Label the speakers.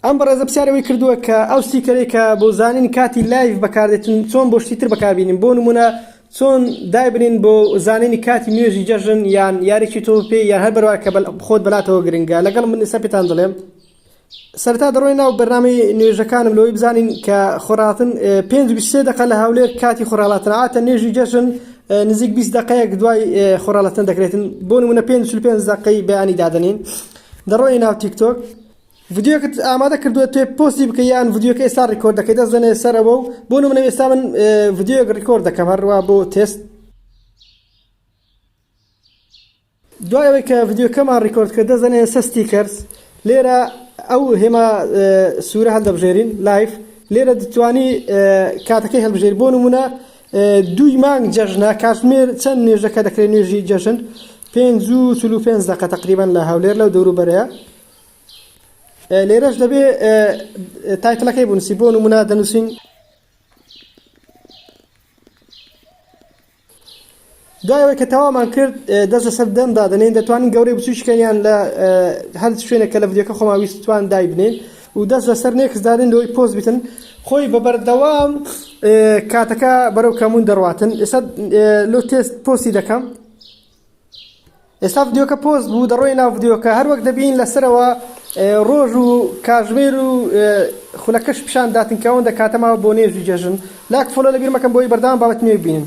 Speaker 1: ئەم بەڕێزە پرسیارەوەی کردووە کە ئەو سیکەرەی کە بۆ زانین کاتی لایف بەکاردێتن چۆن بۆ شتی تر بەکاربیین بۆ نمونە چۆن دایبنین بۆ زانینی کاتی نوێژی جەژن یان یاریی تۆ پێ یان هەر بەروا کە خۆت بەلاتەوە گرنگە لەگەڵ من ئستا پێتان دەڵێم سەرتا دەڕۆی ناو بەرنامی نوێژەکانم لەوەی بزانین کە خۆراڵتن پێ دەقە لە هاولێر کاتی خۆراڵاتناتە نوێژی جەژن نزیک 20 دقەیەک دوای خۆراڵەتن دەکرێتن بۆ نمونە پێ پێ دقەی بەیانی دادنین. دەڕۆی ناو تیک تۆک ڤیدیۆکت ئامادە کردووە توێ پۆستی بکە یان ڤیدیۆکە ئێستا ڕیکۆرد دەکەی دەست دەنێ سەرەوە و بۆ منە ئێستا من ڤیدیۆک ڕیکۆرد دەکەم هەروە بۆ تست دوایەوەی کە ڤیدیۆکەمان ڕیکۆرد کە دەزەنێ سەستی کەرس لێرە ئەو هێما سوورە هەڵدەبژێرین لایف لێرە دەتوانی کاتەکەی هەڵبژێر بۆ نمونە دوی مانگ جەژنە کاتمێر چەند نوێژەکە دەکرێت نوێژی جەژن پێنج و چل و پێنج دەقە تقریبان لە هەولێر لەو دەورو بەرەیە لێرەش دەبێ تایتلەکەی بنووسی بۆ نمونە دەنووسین دوایەوەی کە تەوامان کرد دەست لەسەر دەم دادنین دەتوانین گەورەی بچوشکەیان لە هەر شوێنێکە لە ڤیددیوکە خۆما ویستوان دایبنین و دەست لەسەر نێکس دادن لەوەی پۆز بتن خۆی بە بەردەوام کاتەکە بەرەو کەمون دەڕاتن ئێستا لۆ تێست پۆسی دەکەم ئێستا ڤیدیۆکە پۆست بوو دەڕۆی ناو ڤیدیۆکە هەروەک دەبین لەسەرەوە ڕۆژ و کاژمێر و خولەکەش پیشان داتن کەەوەن دەکاتەماوە بۆ نێژی جەژن لاک فۆلۆ لەبیرمەکەم بۆی بەردام بابەت نوێ بینن